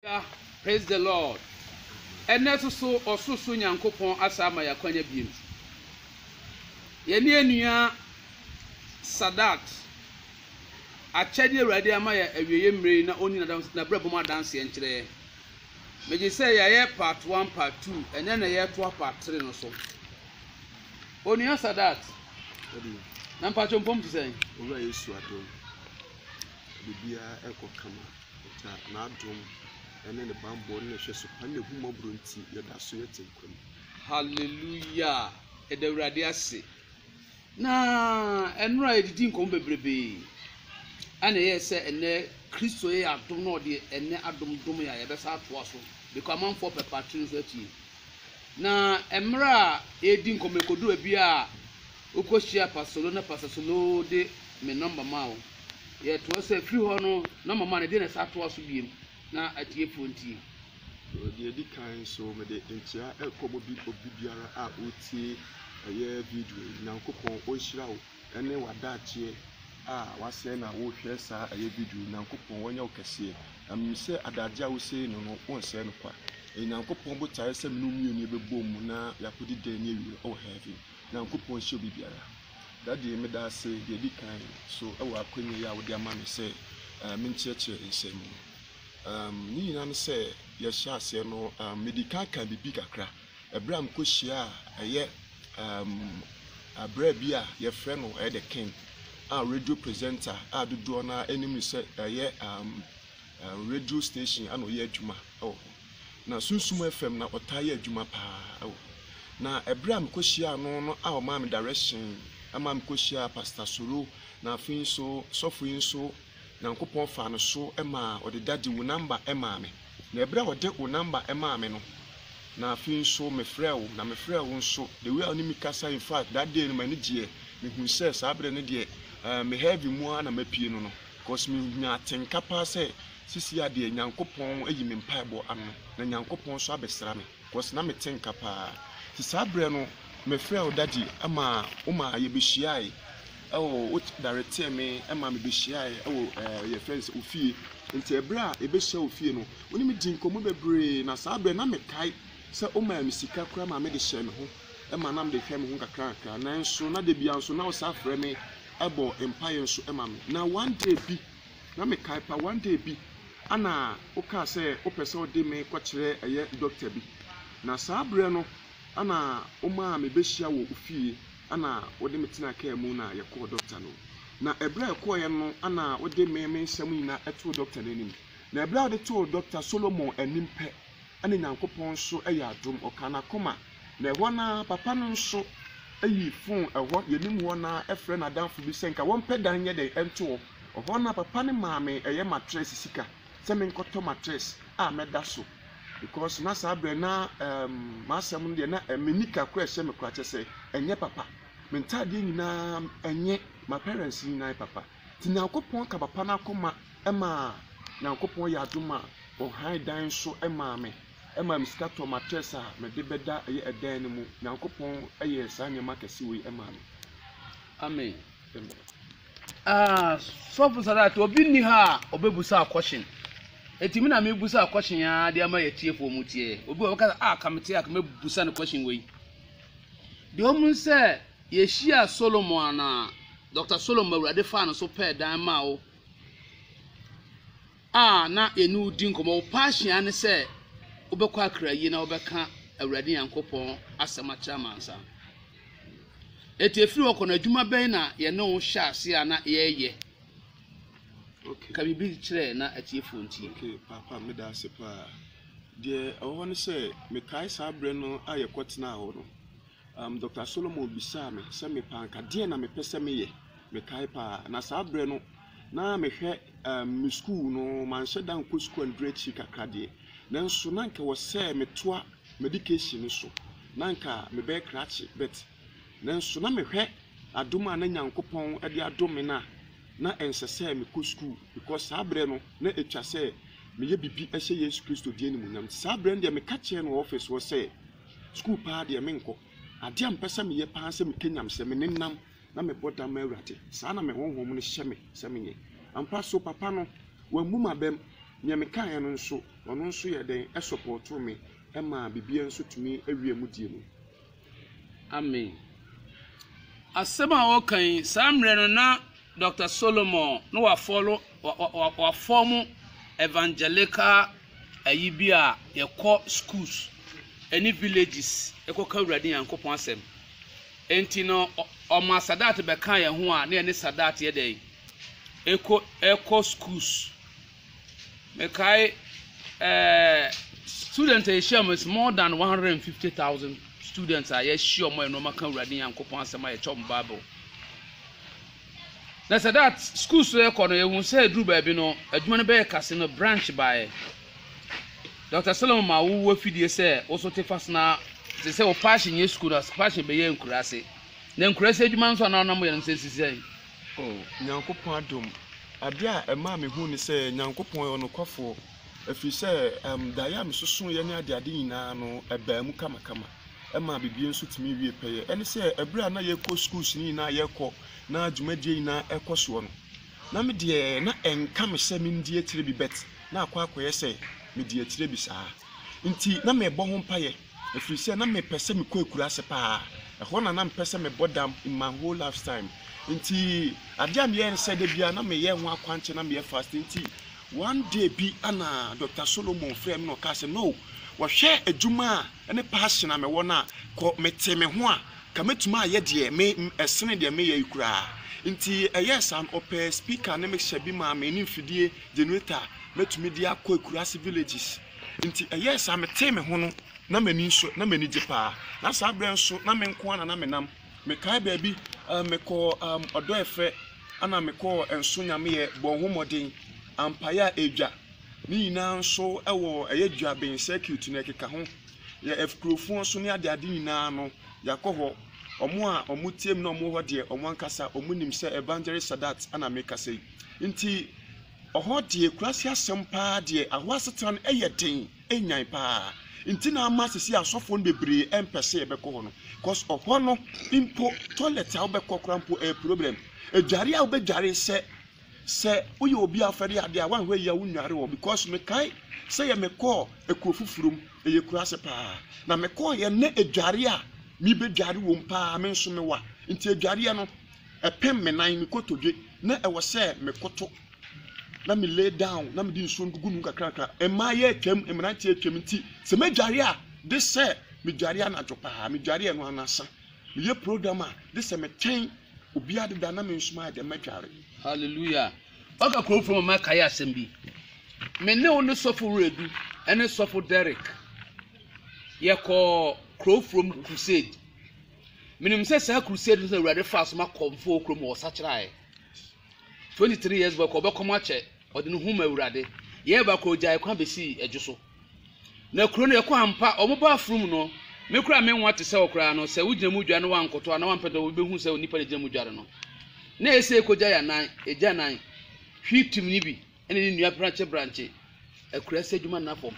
Hallelujah praise the Lord ɛnɛ nso so ɔsorosoro Nyankopɔn asa ama yɛ akwanya biem yɛne anua Sadat akyɛde awurade ama yɛ awieɛ mmerɛ yi na ɔni n'abrabɔ mu adanseɛ nkyerɛ yɛ megye sɛ yɛayɛ part 1 part 2 ɛnɛ na yɛtoa part 3 no so onua Sadat na mpatwo mpɔm te sɛn owura Yesu adom biribiara ɛkɔ kama Ɔtaa n'adom ne ne bammɔ ne nhwɛso pa ne n'ahummɔborɔ nti, yɛda so yɛte nkwa mu. Hallelujah! Yɛda Awurade ase. Na ɛnora yɛdidi nkɔmmɔ bebrebe. Ɛna ɛyɛ sɛ ɛnɛ Kristo yɛ adom na ɔde ɛnɛ adom dom yɛ a yɛbɛsa atoa so. Bɛkɔ amanfoɔ pɛpa tiri nso atie. Na mmerɛ a yɛdi nkɔmmɔ ɛkɔdu baabi a Wokohyiaa Pasolo na Pasasolo de me nɔmba maa wo. Yɛtoa so a, firi hɔ no nɔmba maa no, ɛdeɛn na ɛsan atoa so biom na atiefoɔ ntie? Wɔ deɛ ɛdi kan nso, mede nkyea rekɔ obi obi biara a ɔretie ɛyɛ video yi. Nyankopɔn ɔnhyira wo ɛne w'adaakyeɛ a wasɛe no a worehwɛ saa ɛyɛ video yi. Nyankopɔn ɔnyɛ wo kɛseɛ. Na menim sɛ adagyeɛ a wosei no no, wonsɛe no kwa. Ɛyɛ Nyankopɔn botaeɛ sɛ me ne wo mmienu yɛbɛbɔ mu na yɛakɔdi dɛn ne awieɛ wɔ heaven. Nyankopɔn nhyɛ obi biara. Daddy, meda ase deɛ ɛdi kan so wɔ akwanya yi a wode ama me sɛ menkyerɛkyerɛ nsɛm mu. Ne nyinaa ne sɛ, yɛhyɛɛ aseɛ no, medi kan kaa biribi kakra ɛberɛ a mekɔhyiaa ɛyɛ abirɛ bi a yɛfrɛ no ɛyɛ The King a radio presenter a dodoɔ no ara nim no sɛ ɛyɛ radio station na ɔyɛ adwuma wɔ hɔ. Na Sunsum FM na ɔtaa yɛ adwuma paa wɔ. Na ɛberɛ a mekɔhyiaa no no a ɔmaa me direction ma mekɔhyiaa Pastor Soro na afei nso sɔfo yi nso Nyankopɔn faa no so maa ɔde Daddy wo number maa me. Na ɛberɛ a ɔde wo number maa me no na afei nso mefrɛɛ wo na mefrɛɛ wo nso the way a wo ne me kasae in fact that day no m'ani gyeɛ mehunu sɛ saa berɛ no deɛ eh, me heaven mu ara na mapue no no cause menya atenka paa sɛ Sisi a deɛ Nyankopɔn ayi me mpaebɔ ano na Nyankopɔn nso abɛsra me cause na mete nka paa nti saa berɛ no mefrɛɛ wo daddy ma wo maa yɛbɛhyiaae ɛwɔ wo dareteɛ me ma mebɛhyiaae ɛwɔ ɛɛ yɛfrɛ no sɛ wo fie nti ɛberɛ a yɛbɛhyia wo fie no wo ne me di nkɔmmɔ bebree na saa berɛ na mekae sɛ wo maa me sika koraa ma mede hyɛɛ me ho ma na mede hwɛ me ho kakra kakra nanso na da biara nso na wo saa frɛ me ɛbɔ mpaeɛ nso ma me na one day bi Na me kae pa one day bi ana wo kaa sɛ wo pɛ sɛ wo de me kɔ kyerɛ ɛyɛ doctor bi na saa berɛ no ana wo maa me bɛ hyia wɔ wo fie ana wo de me tenaa kaa mu na yɛ kɔɔ doctor no na ɛberɛ a yɛ kɔɔ yɛ no ana wo de me me nsɛm nyinaa ɛtoo doctor no anim na ɛberɛ a wo de too doctor Solomon anim pɛ ɛna Nyankopɔn nso ɛyɛ adom ɔkaa na koma na ɛhɔ na papa no nso ɛyi phone ɛhɔ yɛ nim hɔ na ɛfrɛ na adamfo bi sɛ nka wɔn pɛ dan nyɛ dɛn ɛnto hɔ. Ɔhɔ na papa no maa me ɛyɛ matress sika sɛ menkɔtɔ matress a mɛda so because na saa berɛ na um, m'asɛm no deɛ na eh, me nika kora ɛhyɛ me kora kyɛ sɛ ɛnyɛ papa me ntaadeɛ nyinaa ɛnyɛ ma parents nyinaa papa nti nyankopɔn ka papa no akoma ɛma nyankopɔn yɛ adom a ɔhan dan so ɛmaa me ɛma me sika tɔ matress a mede bɛda ɛyɛ ɛdan no mu nyankopɔn ɛyɛ saa nneɛma kɛse wei ɛmaa me amen Ah sɔfo Sadat obi nni ha a ɔbɛbusa question ɛti me na mebusa question aa de ama yɛtiefoɔ mu tiɛ obi wɔ bɛka sɛ ah ka mete a ka mɛbusa no question wei deɛ ɔmu sɛ yɛhyia Solomon anaa Dr. Solomon awurade faa no so pɛɛ dan maa wo a na yɛne wo redi nkɔmmɔ, wo paahyia ne sɛ wobɛkɔ akra yie na wobɛka Awurade Nyankopɔn asɛm akyerɛ amansa. Eti efiri hɔ kɔ no, adwuma bɛn na yɛne wo hyɛ ase a na yɛreyɛ? Okay. Ka biribi kyerɛ na atiefoɔ ntie. Okay, papa, meda ase paa. Deɛ ɛwɔ hɔ ne sɛ, mekae saa berɛ no a yɛkɔtenaa hɔ no, Um, Dɔkta Solomon bisaa me sɛ mepɛ anka deɛn na mepɛ sɛ meyɛ. Mekae paa. Na saa berɛ no, na mehwɛ um, me sukuu no, manhyɛ da nkɔ sukuu a neduru akyiri kakra deɛ. Nanso na anka wɔ sɛ metoa medication no so, na anka mebɛyɛ krakye. But nanso na mehwɛ adom a na Nyankopɔn de adom me no a, na ɛnsɛ sɛ mekɔ sukuu because saa berɛ no na ɛtwa sɛ meyɛ biribi hyɛ Yesu Kristo deɛ animuonyam. Nti saa berɛ no deɛ meka kyerɛɛ no wɔ ɔfis hɔ sɛ, Sukuu paa deɛ menkɔ. Adeɛ a mepɛ sɛ meyɛ paa ne sɛ metwa nyam, sɛ menenam na mebɔ dam ma Awurade. Saa na me honhom no hyɛ me sɛ menyɛ. Ampa so, papa no, wammu m'abam. Deɛ mekaeɛ no nso, ɔno nso yɛɛ dɛn? Ɛsɔpɔɔtoo me maa biribiara nso tumi wiee mu deɛ mu. Amen. Asɛm a ɔreka yi, saa mmerɛ no na Doctor Solomon no wa follow wa wa wa wa form evangelical ayi bi a yɛkɔ schools ɛne villages ɛkɔ ka awurade nyankopɔn asɛm ɛnti no ɔma sadat bɛka yɛn ho a ne yɛne sadat yɛ dɛn ɛkɔ ɛkɔ schools Mekae eh, students a yɛhyia mu is more than 150,000 students a yɛahyia mu a yɛn wɔn ka Awurade Nyankopɔn asɛm a yɛkyɛ wɔn Bible. Na sɛ that school so yɛkɔ no yɛhu sɛ aduru baabi no adwuma no bɛyɛ kase no branch baeɛ. Dr. Solomon ma wo afidie sɛ woso te fas na te sɛ wo passion yɛ school na passion bɛyɛ nkuraase. Na nkuraase adwuma nso a na ɔnam yɛ no sɛ sisi sɛn. Oh, Nyankopɔn adom! Adeɛ a ɛmaa me hu ne sɛ Nyankopɔn yɛ ɔnokwafoɔ, ɛfiri sɛ, um, daeɛ a me sosoeɛ ne adeade nyinaa no, ɛbaa mu kamakama. Ɛmaa biribiara nso tumi wie pɛyɛ. Ɛne sɛ, ɛberɛ a na yɛkɔ schools no nyinaa yɛkɔ, na dwumadie nyinaa ɛkɔ soɔ no, na me deɛ, na ɛnka me sɛ me ndi akyire bi, but na akɔ akɔyɛ sɛ medi akyire bi saa. Nti, na mebɔ ho mpaeɛ. Ɛfiri sɛ na mepɛ sɛ mekɔ akuraase paa. Ɛhɔ na na mepɛ sɛ mebɔ dam in my whole life's time. Nti adeɛ a meyɛ ne sɛ da biara na meyɛ ho akwankye na meyɛ fasting. Nti one day bi ɛna Doctor Solomon frɛɛ me na ɔkaa sɛ, Knorr, wɔhwɛ adwuma a ɛne passion a mewɔ no a, kɔ. Metee me ho a, nka mɛtumi ayɛ deɛ me, ɛsene deɛ meyɛ yi koraa. Nti ɛyɛɛ saa no, ɔpɛɛ speaker ne mixer bi maa me ne mfidie, generator, mɛtumi de akɔ akuraase villages. Enti ɛyɛɛ saa, metee me ho no, na m'ani nsɔ, na m'ani gye paa. Na saa berɛ nso, na me nko ara na na menam. Mekae baabi, um, mekɔɔ um, Ɔdɔɛfrɛ, ɛna mekɔɔ Nso Nyameɛ, Bɔ Ho Mmɔden, Ampaeɛ a Ɛdwa. Ne nyinaa nso wɔ ɛyɛ Dwaben circuit na ɛkeka ho. Yɛ Afikurofoɔ nso ne adeade nyinaa no, yɛakɔ hɔ. Wɔn a wɔtie me na wɔwɔ hɔ deɛ, wɔn ankasa wɔnim sɛ Evangelist Sadat na mekasa yi. Enti, Ɔhɔ deɛ kurase asɛm paa deɛ ahɔ asetena no ɛyɛ den ɛnyan paa nti na ama sisi asɔfoɔ no bebree ɛmpɛ sɛ yɛbɛkɔ hɔ no cause ɔhɔ no mpo toilet a wobɛkɔ kora mpo ɛyɛ problem adware a wobɛdware sɛ sɛ woyɛ obi a wofɛre adeɛ a woanhwɛ yie a wonware hɔ because mekae sɛ yɛ mekɔɔ ɛkuo foforɔ mu ɛyɛ kurase paa na mekɔɔ yɛ nɛ adware a mebɛdware wɔ mu paa me nso mewa nti adwareɛ no Ɛpem me nan me kotodwe na ɛwɔ sɛ me koto na me lay down na mede nsuo ndugu mu nkakrakra. Mmaayɛ atwam, mmeranteɛ atwam nti sɛ me dware a de sɛ me dware anadwo paa, me dware ɛno anasa. Me yɛ program a de sɛ me twɛn obiara deda na me nso maayɛ dɛn mɛdware. Hallelujah! Ɔka kurom fo ma makae asɛm bi. Me ne wo ne sɔfo Weradu ɛne sɔfo Derrick yɛkɔɔ kurow from crusade. Menim sɛ saa crusade no na Awurade faa so ma kɔmfoɔ kurom hɔ sakyeraaɛ. 23 years back ɔbɛkɔm akyɛ ɔde ne ho ma Awurade. Year back ɔgyae kwan bɛsii adwo so. Na kuro no yɛkɔ ampa, ɔmo ba afurum no, me koraa me nwa te sɛ wo koraa no, sɛ wo gyina mu dware na wankoto a na wampɛ dɛ obi bɛhu sɛ onipa na ɛgyina mu dware no. Na ɛsɛ ɛkɔgya yɛ anan, ɛgya nan, hwi tim ne bi. ɛna ne nnua brankye brankye akura sɛ adwuma nna fam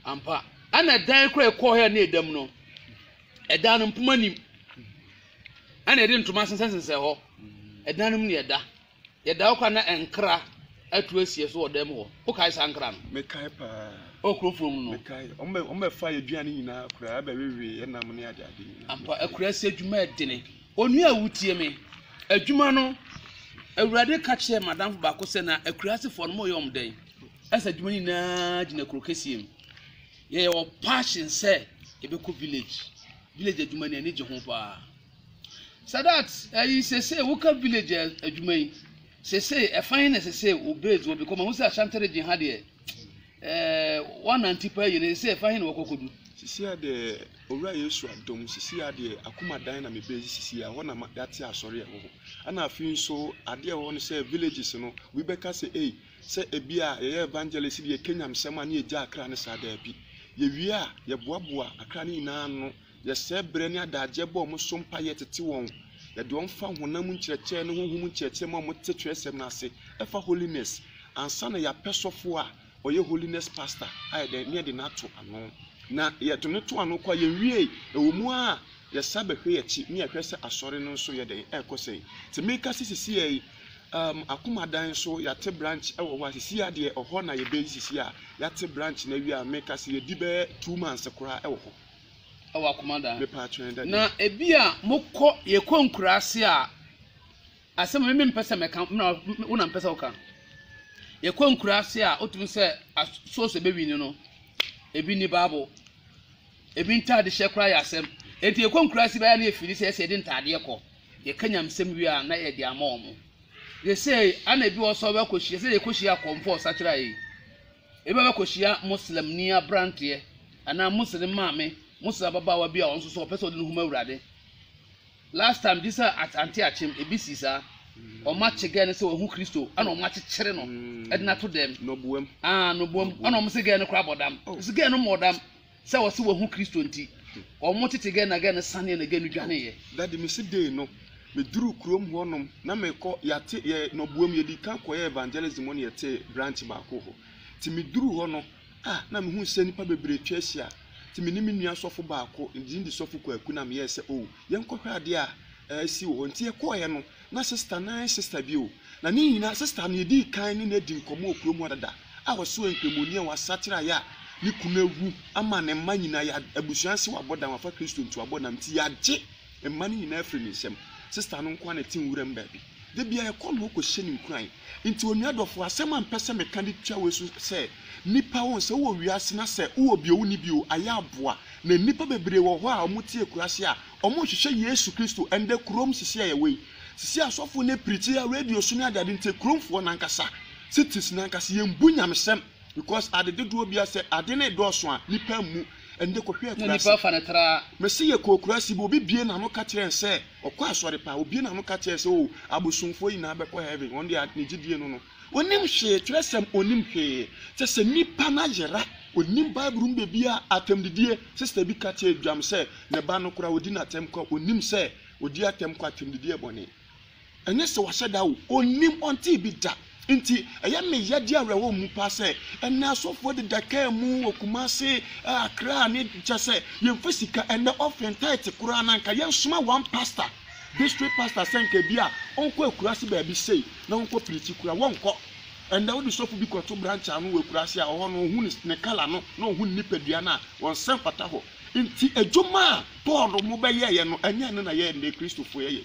ampa ɛna dan kora ɛkɔɔ hɛ ne ɛdam no ɛdan no mpoma nim ɛna ɛde ntoma sensɛnsensɛ hɔ ɛdan no mu ne ɛda yɛda hɔ kora na nkra atu asie so wɔ dan mu hɔ wokae saa nkra no mekae paa ɔkurofoɔ mu no mekae ɔmbɛfa yɛ aduane nyinaa koraa bɛwewe ɛnam ne adeade nyinaa ampa akura sɛ adwuma ɛdene Onua a wutie me. Adwuma no, Awurade ka kyerɛɛ m'adamfo baako sɛ na akurasefoɔ no moyɛ wɔn dɛn? Ɛsɛ adwuma no nyinaa gyina kuro kɛseɛ mu. Yɛyɛ wɔ passion sɛ yɛbɛkɔ village. Village adwuma no ani gye ho paa. Sadat, ɛyi sese woka village adwuma yi. Sese ɛfan na sese wo base wɔ because mahu sɛ Ashanti region ha deɛ Wɔanante paa yie no, sɛ ɛfa he na wɔkɔ kɔdu? Sisi a deɛ Owura Yesu adom, sisi a deɛ Akumadan na mebɛɛ si sisi a, ɛhɔ na yɛate asɔre ɛwɔ hɔ. Ɛna afei nso adeɛ ɛwɔ hɔ no sɛ villages no, obi bɛka sɛ ei, sɛ ebi a yɛyɛ evangelist deɛ yɛka Nyamesɛm a ne yɛgya Accra no saa, daabi. Yɛwie a, yɛboaboa Accra no nyinaa ano Yɛsɛɛ berɛ ne adagyeɛ bɔ wɔn so mpaeɛ tete wɔn. Yɛde wɔn fa honam mu nkyerɛkyerɛ ne honhom mu nkyerɛkyerɛ ma wɔte twerɛsɛm no ase ɛfa holiness ansa na yɛapɛ sɔfoɔ a ɔyɛ holiness pastor ayɛ dɛn ne yɛde no ato ano na yɛde no to ano kɔ a yɛnwiee ɛwɔ mu a yɛsa bɛhwɛ yɛakyi ne yɛhwɛ sɛ asɔre no nso yɛ dɛn ɛrekɔ sɛn te meka sɛ sisi yɛ yi um, akomadan nso yɛate branch ɛwɔ hɔ a sisi yɛ adeɛ ɔhɔ na yɛbɛyi sisi a yɛate branch na awie a meka sɛ yɛdi bɛyɛ two months koraa ɛwɔ hɔ wɔ akoma da. Na ebi a mokɔ yɛkɔ nkuraase a asɛm a me mpɛ sɛ mɛka na wo na mpɛ sɛ woka yɛkɔ nkuraase a wotumi sɛ source bɛwi ni no ebi ni baabo ebi ntaade hyɛ koraa yɛ asɛm eti yɛkɔ nkuraase bɛyɛ na efiri sɛ ɛsɛ yɛde ntaadeɛ kɔ yɛka nyamsɛm wie a na yɛde ama wɔn yɛsɛ ana ebi wɔ sɛ ɔbɛkɔ hyia sɛ yɛkɔ hyia akɔmfo ɔsakyera yi. Ebia wobɛkɔhyia Muslimni aberanteɛ anaa Muslim maame, Muslim ababaawa bi a ɔno nso so ɔpɛ sɛ ɔde ne ho ma Awurade. Last time gye sɛ at ante akyem ebi si saa. Wɔn akye gɛɛ no sɛ wahu Kristo ɛna wɔn akyekyere no de no ato dɛm. Nɔboam. Ah, nɔboam. Ɛna wɔn se gɛɛ no koraa bɔ dam. Nso gɛɛ no mmɔɔ dam. Sɛ wɔse wɔahu Kristo nti, wɔn tete gɛnagɛ no saneɛ na gɛ no dwaneeɛ. Daddy mese dee no me duruu kurom hɔ nom na mekɔ yɛate yɛ no boam yɛdii kan kɔyɛɛ evangelism na yɛtee branch baako hɔ nti me duruu hɔ no ah na mehuu sɛ nipa bebree atwa ahyia nti me ne me nua sɔfo baako ne din de sɔfo Kwaku na meyɛɛ sɛ oh yɛnkɔhwɛ adeɛ a ɛɛsi wɔ hɔ nti yɛkɔɔeɛ no na sista no nye sista bi o, na ne nyina sista no yedii kan ne no edi nkɔmbɔ wɔ kurom hɔ dada a ɔsoɛɛ nkramoni a ɔasakyera a yɛ a no kun ewu ama ne mba nyina yɛ abusua nsew abɔdan wɔafa Kristo ntuabɔ nam ntsi yɛagye mba no nyina efir ne nsamu sista no nkoaa na etse nwura mu beebi da biara yɛkɔ no hɔ kɔhyɛ no nkuran ntsi onua dɔfo asɛm a mepɛ sɛ meka de tua wei so sɛ nipa wɔn sɛ wowɔ wiase na sɛ wowɔ bi o wonni bi o ayɛ aboa na nipa bebree wɔ hɔ a wɔtse ekurase a wɔnhyehyɛ Yesu Kristo ndɛ kurom sisi a yɛwɔ yi. Sisi asɔfo nye pirikyi a radio so nye ade ade ntsi kuromfoɔ nankasa, cities nankasa, yemmbu nyamesɛm because ade dodoɔ bia sɛ ade no redɔɔso a nipa mmu ndɛ kɔhwɛ akurase. Mese yɛkɔɔ kurase bi obi bue n'ano ka kyerɛɛ nsɛ ɔkɔ asɔre paa obue n'ano ka kyerɛ sɛ oh abosomfoɔ nyinaa bɛkɔ heaven wɔn deɛ ne gyidie no no. Onim hwee, twerɛsɛm, onim hwee. Kyɛ sɛ nipa no ayera, onim bible mu bɛbiaa, atɛmdidie, sister bi ka kyɛɛ dwam sɛ ne ba no koraa ɔdi no atɛm kwa, onim sɛ ɔdi atɛm kwa, atɛmdidie yɛ bɔne. Ɛnyɛ sɛ wahyɛ da o, onim, ɔntee bi da. Nti ɛyɛ me ya di awerɛhɔ mu paa sɛ ɛnɛ asɔfoɔ deda kaa mu wɔ Kumasi, Accra ne kyɛ sɛ yɛmfa sika, ɛnɛ offering, tithe koraa no anka yɛnsoma one pastor. District pastor sɛ nka ebia ɔnkɔ akuraase baabi sei na wɔnkɔ preachi koraa a, wɔnkɔ. Ɛnnɛ wode sɔfo bi kɔto branch ano wɔ akuraase a, ɔhɔ no ɔhu ne ne colour no na ɔhu ne nipadua no a, ɔnsɛ mfata hɔ. Nti adwuma a Paul no mo bɛyɛeɛ no, ɛnyɛ ɛno na yɛn nnɛ Kristofo yɛyɛ.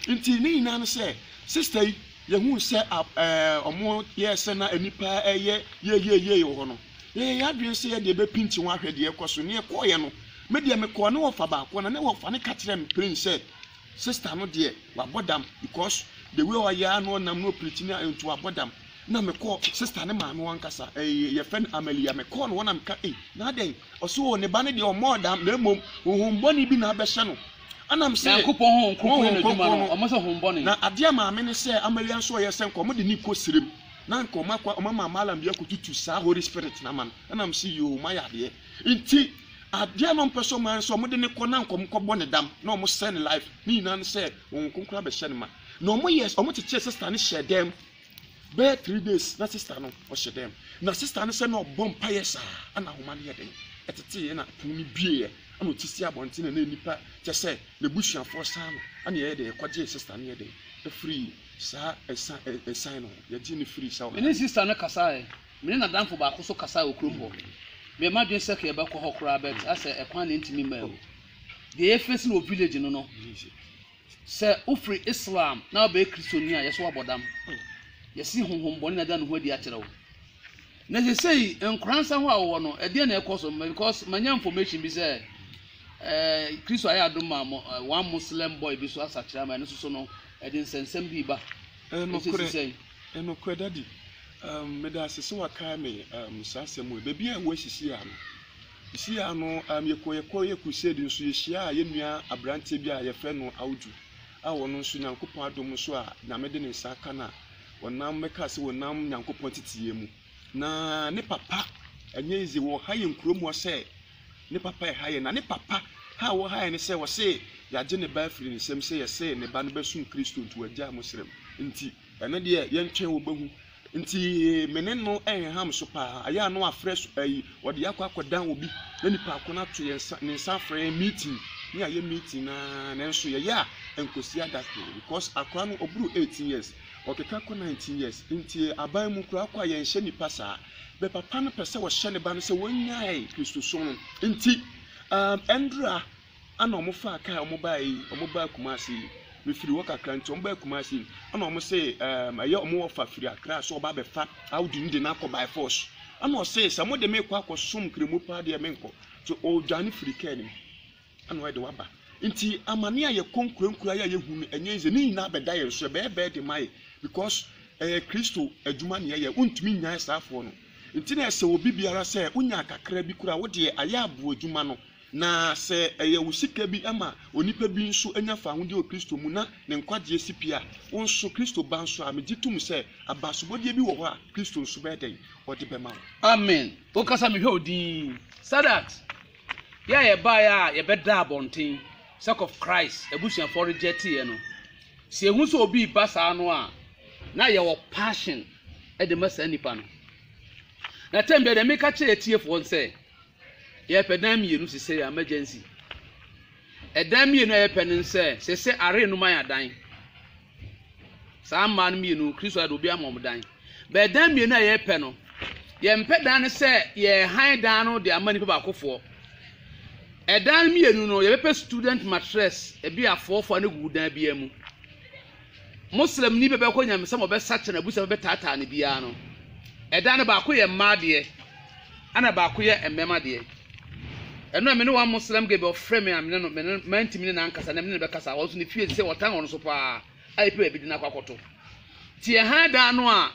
Nti ne nyinaa ne sɛ, sister yi, yɛhuu sɛ a ɛɛ wɔyɛɛ sɛ na nnipa reyɛ yeieiei wɔ hɔ no, Yɛyɛ yɛn adwene sɛ yɛde bɛpinti ho ahwɛ deɛ ɛrekɔ so. Nea ɛkɔeɛ no, me deɛ mekɔɔ ne wɔfa baako na ne wɔfa no ka kyerɛɛ me plain sɛ sister no deɛ wabɔ dam because the way ɔyɛ ara na ɔnam na ɔpirikyi ne nti wabɔ dam. Na mekɔɔ sister ne maame wɔn ankasa ɛyɛ yɛfrɛ no Amalia mekɔɔ no hɔ na meka ei na adɛn ɔse o ne ba no deɛ ɔmmɔɔ dam na mmom honhom bɔne bi na abɛhyɛ no ɛna mese Nyankopɔn honhom kronkron na adwuma no ɔmo sɛ honhom bɔne. Na adeɛ a maame no sɛ Amalia nso ɔyɛ sɛ nka ɔmo de ne kɔ serem na nka ɔma kwa ɔma ma malam bi akotutu saa holy spirit na ma no ɛna m si yoo ma yɛ adeɛ nti adeɛ na ɔmpɛ sɛ ɔma no sɛ ɔmo de ne kɔ na nka ɔmo kɔ bɔ ne dam na ɔmo sɛ ne life ne nyinaa no sɛ wɔn nkonkora bɛhyɛ ne ma na ɔmo yɛ ɔmo kyekyere sista no hyɛ dɛm bɛyɛ three days na sista no ɔhyɛ dɛm na sista no sɛ na ɔbɔ mpaeɛ saa ɛna ahoma no yɛ den ɛtetee ɛna pono no bieɛ ɛna ɔte si abɔnten na nipa kyɛ sɛ n'abusuafoɔ saa no ɛna yɛyɛ dɛ ɛkɔgyee sista no yɛ dɛ ɛfiri Saa ɛsa ɛ ɛsan no, yɛgye no firi saa Me ne ɔhaw. sista no kasaeɛ. Me ne n'adamfo baako nso kasaeɛ wɔ kurom hɔ. Meyɛ m'adwene sɛ ka yɛbɛkɔ hɔ koraa but asɛ ɛkwan na ɛntumi mmaa mu. Deɛ yɛfeesi no wɔ village no no, sɛ wofiri Islam na wobɛyɛ Kristoni a, yɛsɛ woabɔ dam. Yɛse honhommɔne na ada ne ho adi akyerɛ wo. Na seesei nkora nsa hɔ a wowɔ no, ɛdeɛn na ɛrekɔ so? Because manya information bi sɛ eh, Kristo ayɛ adom ma mo, eh, one Muslim boy bi nso asakyera ma ɛno nso so no, Ɛde nsɛnsɛm pii ba. Ɛsɛ si sɛn? Nokorɛ daddy um medase sɛ wakae me um saa asɛm wei baabi a ɛwɔ sisi ano sisi ano um yɛkɔ yɛkɔ yɛ crusade nso yɛhyia a yɛnua aberanteɛ bi a yɛfrɛ no awudwu a wɔn nso nyankopɔn adom nso a nyame de ne nsa aka no a wɔnam mɛka sɛ wɔnam nyankopɔn titiyɛ mu Na ne papa ɛnyɛ easy wɔ ha yɛn kuro mu hɔ sɛ ne papa ɛha yɛn na ne papa ha a wɔha yɛn ne sɛ ɔse yɛagye ne ba afiri ne nsam sɛ yɛse ne ba no bɛsom Kristo nti wagyaa mo serem nti ɛno deɛ yɛntwɛn wɔbɛhu nti me ne no ɛnham so paa ayɛ ano afrɛ so ayi wɔde akɔ akɔdan obi na nipa ako no ato yɛn nsa ne nsa afrɛ yɛn meeting ne ayɛ meeting na nanso yɛyɛ a ɛnkɔsi adakoro because akora no ɔboro 18 years Ɔkeka kɔ nineteen years ntie aban mu koraa kɔ a yɛn hyɛ nipa saa bɛ papa no pɛsɛ ɔhyɛ ne ba no sɛ wɔn nyae kristosom no nti aah ɛndra ana ɔmo faa kaa ɔmo baa yi ɔmo baa kumase yi me firi hɔ kakra nti ɔmo baa kumase yi ana ɔmo se aah ɛyɛ ɔmo ɔfa firi akra so ɔba bɛfa audi no de no akɔ by force ana ɔse sɛ mo de me kɔ akɔ som kremu paa deɛ me nkɔ nti ɔdwane firi kaa nim. Ana ɔyɛ de waba. Nti amane a yɛkɔ nkurankuraa yi a yɛhu no ɛnyɛ easy, ne nyinaa bɛda yɛn so, ɛbɛyɛ burden ma yɛn because ɛyɛ Kristo adwuma na yɛyɛ, wontumi nnyae asraafoɔ no. Nti na ɛsɛ obi biara sɛ wonya kakra bi koraa a wodeɛ ayɛ aboa adwuma no, na sɛ ɛyɛ wo sika bi ma onipa bi nso anya fawohodie wɔ Kristo mu na ne nkwagyeɛ si pi a, wo nso Kristo ba nso a, megye tom sɛ abasobɔdeɛ bi wɔ hɔ a Kristo nso bɛyɛ dɛn? Ɔde bɛma wo. Amen. Wo kasa mehwɛ wo din. Sadat Yɛ a yɛbaeɛ a yɛbɛdaa abɔnten sɛ kɔf Christ abusuafoɔ rejecteeɛ no, sɛ yɛhu sɛ obi reba saa no a, na yɛwɔ passion de ma saa nipa no. Na tɛm bia deɛ meka kyerɛ atiefoɔ sɛ, yɛpɛ dan mmienu sesɛ yɛ emergency. Ɛdan mmienu a yɛpɛ no sɛ sesɛ are no ma yɛ adan. Saa mmaa no mmienu, Kristo ayɛ de obi ama wɔn dan. Bɛɛ dan mmienu a yɛrepɛ no, yɛmpɛ dan no sɛ yɛrehan dan no de ama nipa baakofoɔ. Ɛdan no mmienu no, yɛbɛpɛ student mattress, ebi afoɔfoɔ no gu dan biara mu. Muslimni bɛbɛkɔ nyamesɛm ɔbɛsakyɛ na abusa bɛbɛtaataa no biara no, ɛdan no baako yɛ mmaa deɛ, Ɛna baako yɛ mmɛma deɛ. Ɛno a me ne one Muslim girl bi ɔfrɛ me a me ne no me ne mantumi ne n'ankasa na me ne no bɛkasa ɔno nso ne fie sɛ ɔtan ɔno nso paa a epi baabi de no akɔ akɔto te ɛhan dan no a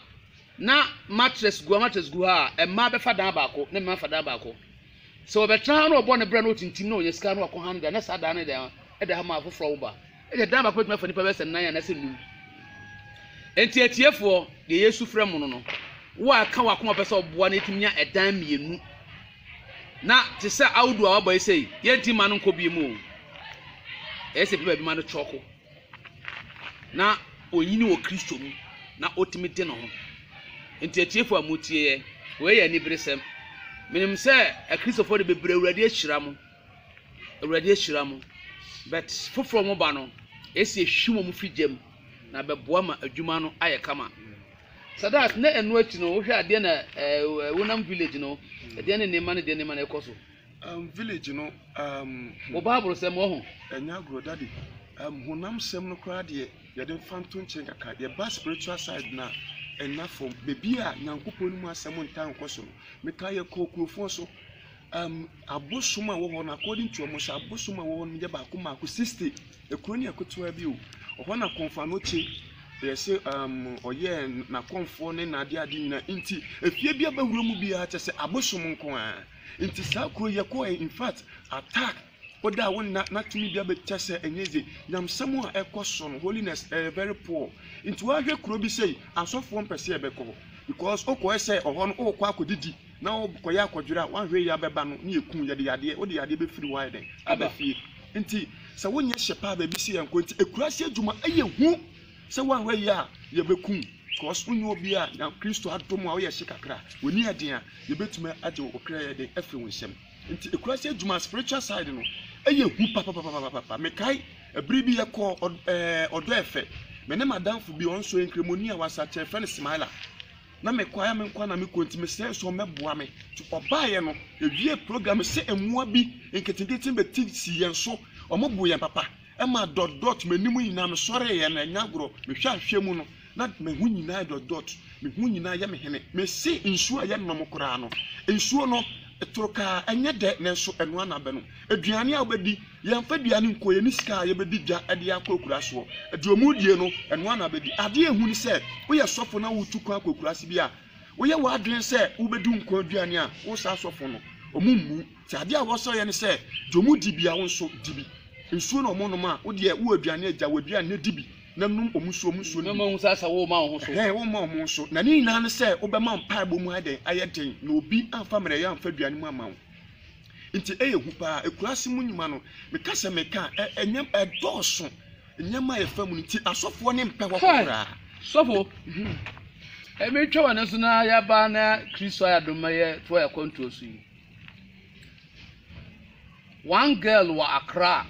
na mattress gu mattress gu ha a mmaa bɛfa dan baako na mmaa fa dan baako sɛ ɔbɛtena ha na ɔbɔ ne brɛ na ɔtintim na ɔnya sika na ɔkɔ ha no da na saa dan no da ɛda ha ma afoforɔ wo ba Ebia dan baako betumi afa nnipa bɛyɛ sɛ nnan anaasɛ nnum. Enti atiefoɔ, deɛ Yesu frɛ mo no no, wo a ɛka w'akoma pɛ sɛ ɔboa na yɛtumi nya ɛdan mmienu na te sɛ audu a wabɔ yi sei, yɛnti mma no nkɔ bie mu o. Ɛyɛ sɛ bi baabi ma no kyɔko na onyini wɔ Kristo mu na ɔtumi de ne ho. Enti atiefoɔ a motie yɛ, wei yɛ aniberesɛm. Menim sɛ akristofoɔ de bebree Awurade ahyira mo. Awurade ahyira mo, but foforɔ mo ba no ɛsi ɛhwi wɔn fi gya mu na bɛboa ma adwuma no ayɛ kama. Sadat na ɛno akyi no wohwɛ adeɛ na ɛɛ wonam village no ɛdeɛ ne nneɛma ne deɛ nneɛma na ɛkɔ so. Um, village no um, Wɔ Bible sɛm wɔ ho. ɛnyɛ agorɔ dade um, honam sɛm no koraa deɛ yɛde mfa nto nkyɛn kakra yɛba spiritual side no a ɛna fam baabi a nyankopɔn no mu asɛm ntaa nkɔ so no meka yɛkɔɔ kurofoɔ so Ɛɛm, abosom a ɛwɔ hɔ no, akɔɔdin tu wɔn sɛ abosom a ɛwɔ hɔ no yɛ baako mmaako, sixty. Ekuro no yɛ ketewa bi o. Ɛhɔ na Kɔmfanoche yɛ se ɛɛm ɔyɛɛ n'akɔmfoɔ ne n'adeade nyinaa. Nti efie bi a bɛwura mu biara kyɛ sɛ abosom nko ara. Nti saa kuro yi yɛkɔɔɛ infact attack Wo da a wo nna na tumi bia bɛ kyɛ sɛ ɛnyɛ dze. Nyamsɛm a ɛkɔ so no holiness ɛyɛ very poor. Nti wa hwɛ kuro bi sei asɔfoɔ mpɛ sɛ yɛbɛ kɔ hɔ because wo kɔɛ sɛ ɔhɔ no wo kɔ akɔ didi na wo kɔ yɛ akɔ dwere a wa hwɛ yɛ bɛ ba no ne yɛ kun yɛde yadeɛ wo de yadeɛ bɛ firi hɔ ayɛ dɛn aba fie. Nti sɛ wo nyɛ hyɛ paa baabi sɛ yɛn kɔ nti akuraase adwuma ɛyɛ hu sɛ wa hwɛ yɛ a yɛ bɛ kun because wo nyɛ obi a nya Kristo adom a wo yɛ hye kakra wo ni ɛden a yɛ bɛ tumi agye wo kra yɛ den afiri wo nsam. Nti ekura sɛ adwuma spiritual side no ɛyɛ hu papapapapapa. Mekae ɛbere bi yɛkɔ ɛɛ ɔdɔ ɛfɛ. Me ne madamfo bi ɔno nso nkramoni a wasakyɛ yɛfrɛ no Smiler. Na mekɔ ayɛ me nko na mekɔ nti mesrɛ nso ɔmmɛboa me. Nti ɔbaeɛ no yɛwie program no sɛ mmoa bi nketenkete bɛti sii yɛn so. Wɔboo yɛn papa. Ɛma dɔt dɔt m'anim nyinaa mesɔreeɛ no ɛnyɛ agorɔ. Mehwɛ ahwɛ mu no Na me ho nyinaa yɛ dɔtdɔt, me ho nyinaa yɛ me hene, mese nsuo a ɛyɛ nnɔm koraa no. Nsuo no toro kaa, ɛnyɛ dɛ, nanso ɛno ara na abɛnom. Aduane a wobɛdi, yɛmfa aduane nkɔ, yɛn ne sika a yɛbɛdi dwa de akɔ akuraase hɔ. Deɛ wɔredie no, ɛno ara na abɛdi. Adeɛ a ɛhu ne sɛ, woyɛ sɔfo na woretu kwan akɔ akuraase bi a, woyɛ w'adwene sɛ wobɛdi nkwa aduane a, wo saa sɔfo no, wɔmmu. Nti adeɛ a wɔsɔ yɛ ne sɛ, deɛ ɔmo di bia wo nso di bi. Nsuo na ɔmo nom a, wo deɛ wowɔ aduane a, gya w'aduane no di bi, na nom ɔmo nsuo, ɔmo nsuo no bi. Mɛma woahu sɛ asɛ worema wo ho so. Ɛhɛɛ, worema ɔmo nso. Na ne nyinaa ne sɛ, wobɛma mpaebɔ mu ayɛ dɛn? Ayɛ den, na obi amfa mmerɛyɛ amfa aduane mu amma wo. Nti ɛyɛ hu paa. Akuraase mu nnwuma no, meka sɛ meka a, ɛ, ɛnyɛ, ɛdɔɔso. Nneɛma a yɛfa mu no nti, asɔfoɔ no mpɛ hɔ Hwɛ! koraa. Sɔfo, ɛmeretwa w'ani so na yɛaba na Kristo ayɛ adom ma yɛtoa yɛn akwantuo so yi. One girl wɔ Accra,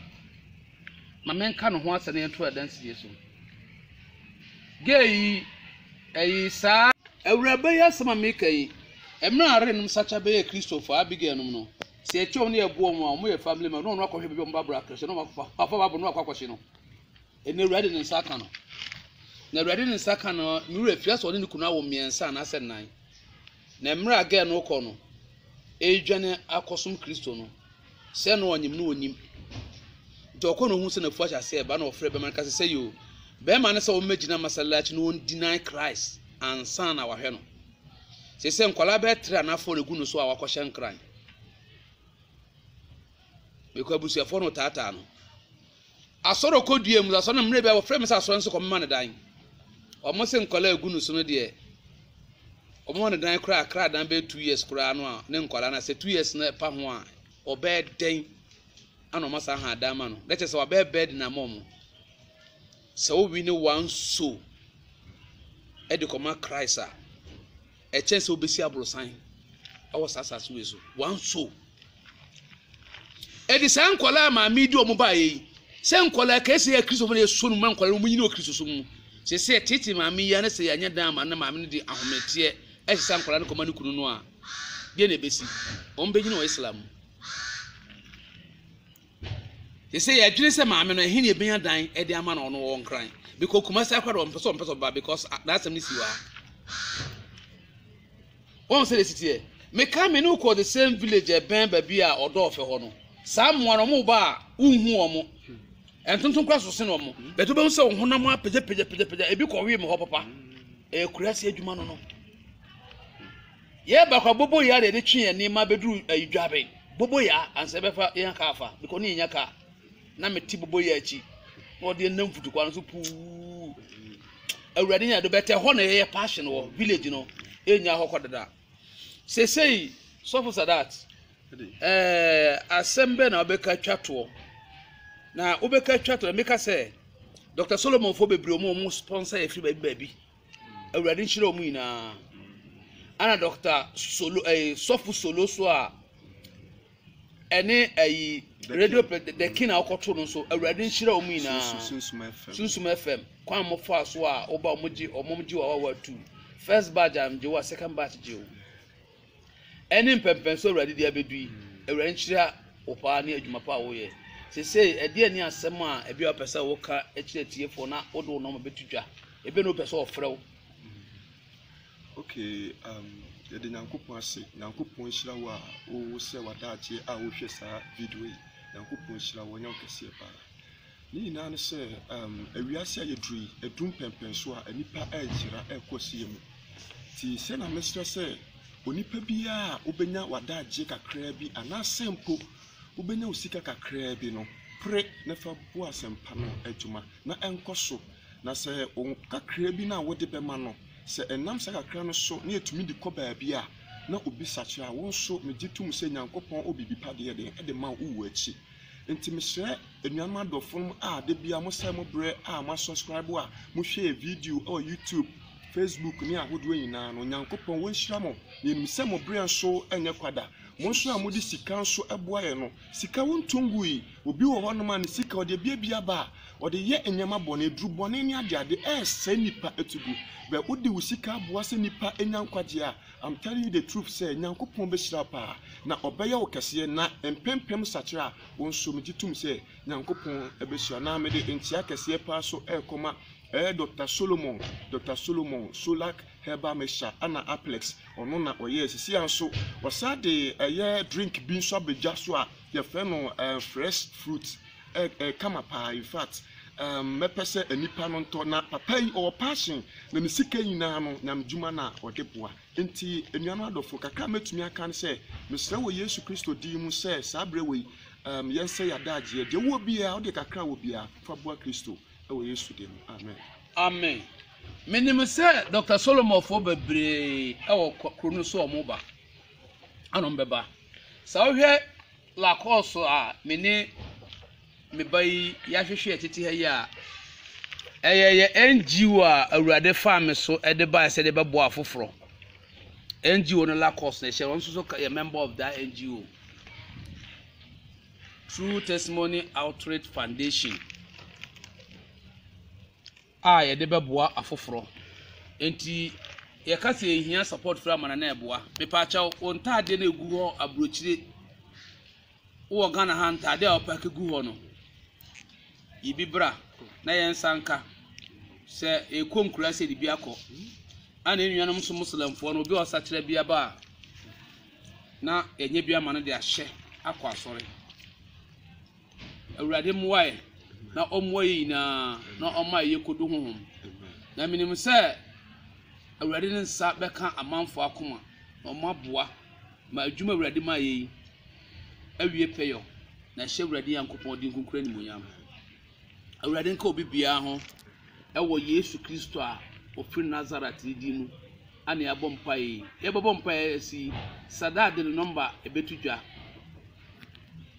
ma menka ne ho asɛm na yɛnto adansidie so. Girl yi, ɛyi saa. Awuraba yi asɛm a meka yi, mmerɛ a arenom sakya bɛyɛɛ Kristofo a, Abigail nom no, sɛ yɛkyɛ wɔn na yɛboa wɔn a, wɔyɛ family member, na ɔno akɔhwɛ baabi a wɔn Bible akrɛhyɛ, na wafa Bible no akɔ akɔhye no. Ɛnna Awurade de ne nsa aka no. Na Awurade de ne nsa aka no, me werɛ fii, asɛ ɔne ne kunu awo mmiɛnsa anaasɛ nnan. Na mber a girl no rokɔ no, eedwane akɔsom Kristo no, sɛ nna ɔnyim no onnyim. Ntsi ɔkɔ na ohun sɛ n'efuw ahyɛ ase reba na ɔfrɛ bɛrma no kã dɛ, Sesei o, bɛrma no sɛ ombegyina masallachi na ondinai Christ ansaana ɔahwɛ no. Sesei nkwadaa bɛyɛ tre a n'afɔr egu no so a ɔakɔhyɛ nkran. Mekɔ abusuafo hɔ na ɔtaataa no. Asɔr ɔkɔ dua mu dza asɔr no mbrɛ bi a wɔfrɛ me sɛ asɔr no so kɔ mema no dan ɔmo se nkɔlaa egu no so no deɛ ɔmo ma no dan koraa kra dan bɛyɛ two years koraa no a ne nkɔlaa na sɛ two years no ɛpa ho a ɔbɛyɛ dɛn ana ɔmo asan ha dan ma no na kyerɛ sɛ wabɛyɛ bɛɛd na ama ɔmo sɛ wowi ne one so ɛde kɔma Christ a Ɛkyɛn sɛ wobɛsi aborosan wɔ saa asase wei so one soul ɛde saa nkwadaa maame di wɔn baayɛ yi sɛ nkwadaa kɛse yɛ kristofo na yɛsɔ no mu nkwadaa no wɔn nyina wɔ kristosom mu sɛ sɛ tete maame yi ne sɛ yɛanyɛ dan ama ne maame no de ahometeɛ ɛhyɛ saa nkwadaa no kɔma ne kunu no a deɛ na ɛbɛsi wɔn bɛgyina wɔ islam mu Sesei yɛdwene sɛ maame no ɛhe na yɛbɛnya dan de ama no ɔno wɔ nkran bikɔ kumasi akora deɛ ɔmpɛ sɛ ɔmpɛ sɛ ɔba because n'asɛm no si hɔ a wɔn sɛ de siteɛ meka me ne wokɔ the same village ɛbɛn baabi a ɔdɔ ɔfɛ hɔ no saa mmoa no ɔmo ba a wonhu ɔmo ɛntontom kora so sen ɔmo bɛtɛ wobɛhu sɛ wo honam apagya pagya pagya pagya ebi kɔwee me hɔ papa ɛyɛ kurase adwuma no no Yɛɛ baako a bobo yaa na yɛde twe yɛn nneɛma bɛduru ayi dwabe. Bobo yaa ansa yɛbɛfa yɛn kaa afa because ne yɛnya kaa. Na mete bobo yaa akyi na ɔde yɛn nam futukwa no so puu. Awurade nya do bɛtɛ hɔ na yɛyɛ passion wɔ village no. Yɛnya hɔ kɔ dada. Sesei sɔfo Sadat eh, asɛm bɛn na wobɛka twa toɔ? Na wobɛka twa toɔ na meka sɛ Dr. Solomon fo bebree wɔn a wɔn sponsor yɛ firi baabi baabi. Awurade nhyira wɔn nyinaa. Ɛna dɔkta solo ɛyi eh, sɔfo solo so a ɛne ɛyi radio dɛkin a ɔkɔto no nso awurade nhyira wɔn nyinaa sunsum fm kwan mo fa so a ɔba wɔn gye wɔn gye wɔn a wɔatu first batch a gye wɔn a second batch gye wɔn. Ɛne mpɛnpɛnso Awurade de abɛdu yi, Awurade nhyira wo paa ne adwuma pa a woyɛ. Sesei, ɛdeɛn ne asɛm a ɛbia wopɛ sɛ woka kyerɛ atiefoɔ na wode wo nɔma bɛto dwa? Ɛbia na wopɛ sɛ wɔfrɛ wo. Ok, um, yɛde Nyankopɔn ase. Nyankopɔn nhyira wo a wosrɛ w'adagyeɛ a wohwɛ saa video yi. Nyankopɔn nhyira wo, ɔnyɛ wo kɛseɛ paa. Ne nyinaa ne sɛ wiase a yɛduru yi, ɛdu mpɛnpɛnso a nnipa reyera rekɔ asie mu. Nti sɛ na mesrɛ sɛ onipa biara a wobɛnya w'adagyeɛ kakraa bi anaasɛ mpo wobɛnya wo sika kakraa bi no, pere na fa bu asɛmpa no adwuma na ɛnkɔ so. Na sɛ wo kakraa bi no a wode bɛma no, sɛ ɛnam saa kakra no so na yɛtumi de kɔ baabi a na obi sakyera a, wo nso megye tom sɛ Nyankopɔn wɔ biribi pa deɛ deɛ ɛde ma wo wɔ akyi. Nti mesrɛ Anuanom adɔfonom a da biara mosɛe mo berɛ a moasɔskraibo a mohwɛɛ video wɔ YouTube, Facebook ne ahodoɔ nyinaa no, Onyankopɔn ɔnhyira mo. Yɛnim sɛ mo berɛ nso nyɛ kwa da. Mo nso a mode sika nso boa yɛn no, sika wontɔ ngui. Obi wɔ hɔnom a ne sika ɔde abiabia aba a ɔde yɛ nneɛma bɔne, aduru bɔne ne adeade ɛresɛe nnipa to gu. Bɛ wode wo sika aboa sɛ nnipa nya nkwagyeɛ a, I'm telling you the truth sɛ Nyankopɔn bɛhyira wo paa na ɔbɛyɛ wo kɛseɛ na mpempem sakyera a Wo nso megye tom sɛ Nyankopɔn bɛhyira na mede nkyea kɛseɛ paa so rekɔma ɛɛ Doctor Solomon Doctor Solomon Solac Herbal Mixture ana Aplex ɔno na ɔyɛɛ sesia nso ɔsan de ɛyɛ drink bi nso abɛdwa so a yɛfrɛ no ɛɛ fresh fruit ɛɛ ɛkama paa in fact ɛɛ mɛpɛ sɛ nnipa no ntɔ na papa yi ɔwɔ passion na ne sika nyinaa no nyamedwuma na ɔde boa Enti, anuanom adɔfo, kakra a mɛtumi aka ne sɛ, mesrɛ wɔ Yesu Kristo din mu sɛ saa berɛ wei, um, yɛnsɛ yɛn adagyeɛ. Deɛ wowɔ biara, wode kakra a wɔ biara, fa boa Kristo wɔ Yesu din mu. Amen. Amen. Menim sɛ Dɔkta Solomɔfoɔ bebree wɔ kuro no so a wɔba. Ana wɔbɛba. Sɛ wohwɛ Lakɔɔso a me ne Me ba yi yɛahwehwɛ yɛ tete ha yi a, ɛyɛ yɛ NGO a Awurade faa me so de baeɛ sɛ de bɛboa afoforɔ. NGO no Lacos na ɛhyɛ no, ɔno nso so ka- yɛ member of that NGO. True Testimony Outreach Foundation a yɛde bɛboa afoforɔ. Enti yɛka sɛ yɛhia support firi amana na ɛboa. Mepaakyɛw, wo ntaadeɛ no a ɛgu hɔ aburokyire Wowɔ Ghana ha ntade a wɔpake gu hɔ no, yi bi bra na yɛnsa nka. Sɛ yɛkɔ nkura ase de bi akɔ, ɛna yɛn nuanom nso Muslimfoɔ no, obi a ɔsakyera bi aba a, na yɛnyɛ bi ama no de ahyɛ akɔ asɔre. Awurade mmoa yɛ na ɔmmoa yɛn nyinaa na ɔma yɛ yɛkɔdu honhom. Na menim sɛ Awurade ne nsa bɛka amanfoɔ akoma na ɔmo aboa. Ma adwuma a Awurade ma yɛ yi awie pɛyɔ, na hyɛ Awurade Nyankopɔn din kronkron animuonyam. Awurade nka obi biara ho wɔ Yesu Kristo a ɔfiri Nasaret ne din mu a na yɛabɔ mpaeɛ yi. Yɛbɛbɔ mpaeɛ asi yi, Sadat de ne nɔmba ɛbɛto dwa.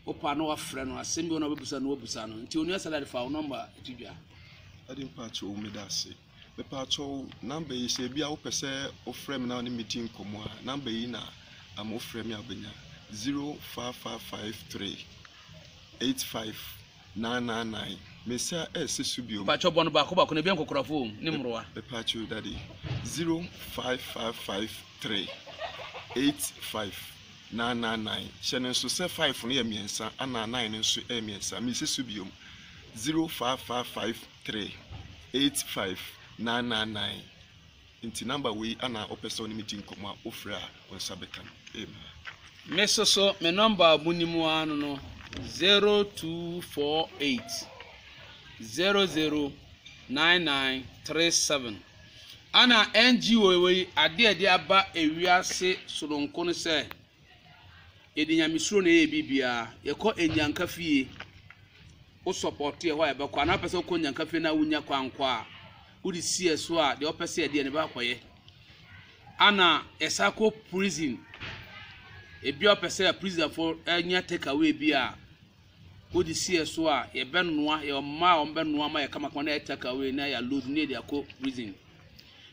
Wopa na wafrɛ no, asɛm bi wɔ na wabɛbisa no, wabusa no. Nti onua Sadat fa wo nɔmba to dwa. Ade mpakyɛw meda ase. Mepatwɔw number yi sɛ ebia wopɛ sɛ wofrɛ me na wo ne me di nkɔmmɔ a, number yi na ama wofrɛ me a wobɛnya. Zero five five five three eight five nine nine nine. Me nsa ɛrese so bio. Mepatwɔw bɔ no baako baako na ebia nkɔkorafo wɔ mu ne mmorowa. Mepatwɔw dade. Zero five five five three eight five nine nine nine. Hyɛ no nso sɛ five no yɛ mmiɛnsa ɛna nine no nso yɛ mmiɛnsa. Mese so bio. Zero five five five. three eight five nine nine nine nti number wei ana wopɛ sɛ ɔne me di nkɔmmɔ a wofrɛ a wo nsa bɛka no amen me soso me number a monim ara no no 0248 009937 ana ngo wei ade a ɛde aba ewiase soronko no sɛ yɛde nyamesuro na ɛyɛ biribiara yɛkɔ anyanka fie Wo sɔpɔɔto yɛ hɔ a yɛbɛkɔ anaa wopɛ sɛ wokɔ nyankafie no a wonya kwan nkɔ a wode si yɛ so a deɛ ɔpɛ sɛ yɛdeɛ no bɛakɔyɛ ana yɛsa kɔ prison ebi a ɔpɛ sɛ prisonfo nya take away bi a wode si yɛ so a yɛbɛnoa yɛ ɔma a ɔmbɛnoa ma yɛ kamakama na yɛ take away na yɛ load na yɛde akɔ prison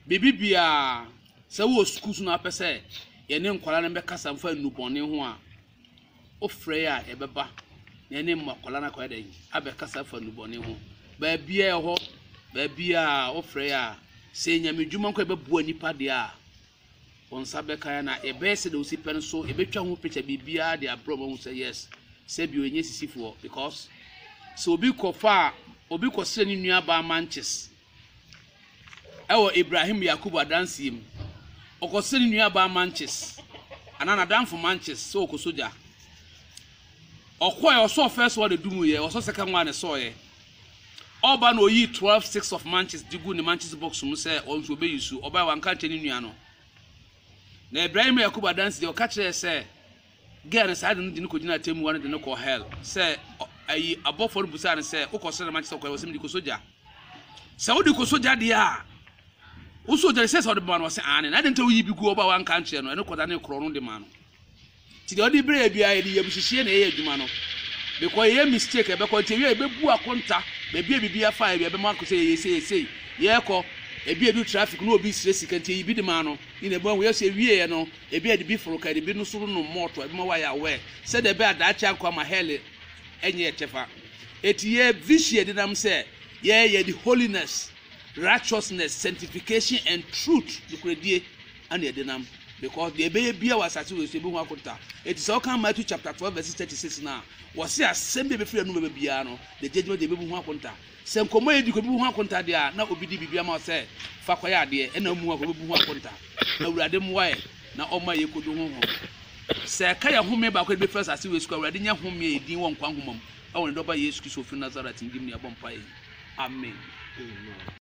biribi biara sɛ wowɔ sukuu so na wopɛ sɛ yɛne nkwadaa no bɛkasa mfa nnubɔne ho a Wofrɛ a ɛbɛba na ɛne mma akwadaa no akɔyɛ dɛn abɛkasa afa nnubɔne ho baabiara ɛhɔ baabiara wofrɛ a sɛ nyame dwuma nko ɛbɛboa nipa deɛ a wɔn nsa bɛka na ɛbɛyɛ sɛ deɛ wosi pɛ no so ɛbɛtwa ho picture biribiara de abrɛ wɔn sɛ yes sɛ bio ɛnyɛ sisifoɔ because sɛ obi kɔfa a obi kɔsrɛ ne nua baa manches Wɔ Ibrahim Yakubu adanseɛ mu, ɔkɔ srɛ ne nuabaa Manches anaa n'adamfo Manches sɛ ɔkɔ sogya. Ɔkɔɛ, ɔsɔɔ first one ɛdumuiɛ, ɔsɔ second one ɛsɔɔɛ. Ɔba na ɔyii 12 six of Manches de gu ne Manches box mu sɛ ɔno nso ɔbɛ use, ɔbaɛ wanka nkyɛ ne nua no. Na Ibrahim Yakubu adanseɛ ɔka kyerɛɛ sɛ, Gɛɛ no saa de no de no kɔgyinaa atɛmmuwa no de no kɔɔ hɛl sɛ ɔ ayi abɔfoɔ no busaa no sɛ, Wokɔ soro dɛm akyɛ sɛ wokɔ hɛl? Ɔse, Mede kɔsɔ gya. Sɛ wode kɔsɔ gya deɛ a, wosɔ gya no ɛsɛ sɛ wode bɛma no? Ɔse, Aane. Na adɛn nti a woyi bi gu hɔ ba a woanka ankyerɛ no? Ɛno kɔdanee korɔ no de maa no. Nti deɛ ɔde brɛ yɛ biara yɛde yabuhyehyeɛ na ɛyɛ adwuma no because yɛyɛ mistake a ɛbɛkɔ nti ɛwie a yɛbɛbu akonta baabi a biribi afa yɛ bi ɛbɛma ako sɛ yɛyɛ sei yɛ sei yɛrekɔ ebi edu traffic na obi srɛ sika nti yɛyi bi de maa no ne na ɛbɛma hu yɛ sɛ ɛwieɛ no Ebia ɛde bi foro ka, ɛde bi no so renom mɔɔto, ɛbɛma woayɛ aware sɛdeɛ ɛbɛyɛ a daakye ankɔ ama hell nyɛ yɛn kyɛfa. Enti yɛ vihyia denam sɛ yɛyɛ yɛde holiness, righteousness, sanctification and truth, nokorɛdie, ɛna ɛdenam because deɛ ɛbɛyɛ biara wɔ asase wei so ɛbɛhu akonta. Enti sɛ woka Matthew chapter 12 verse 36 no a, wɔse asɛm bi a ɛbɛfiri anom bɛba biara no, the judgment day ɛbɛmu ho akonta. Sɛ nkɔmmɔ a yɛdi kɔ bi bu ho akonta deɛ a, na obi de biribi ama wo sɛ fa kɔyɛ adeɛ, ɛnna mmoa kɔ bɛbu ho akonta. Awurade mmoa yɛn na ɔmma yɛkɔdu honhom no. Sɛ ɛka yɛn home baako a yɛde bɛfiri asase wei so kɔ a, Awurade nya home a ɛyɛ dinn wɔ nkwa nhoma mu, wɔ ne Dɔba Yesu Kristo a ɔfiri Nasaret no din mu na yɛbɔ mpaeɛ yi. Amen.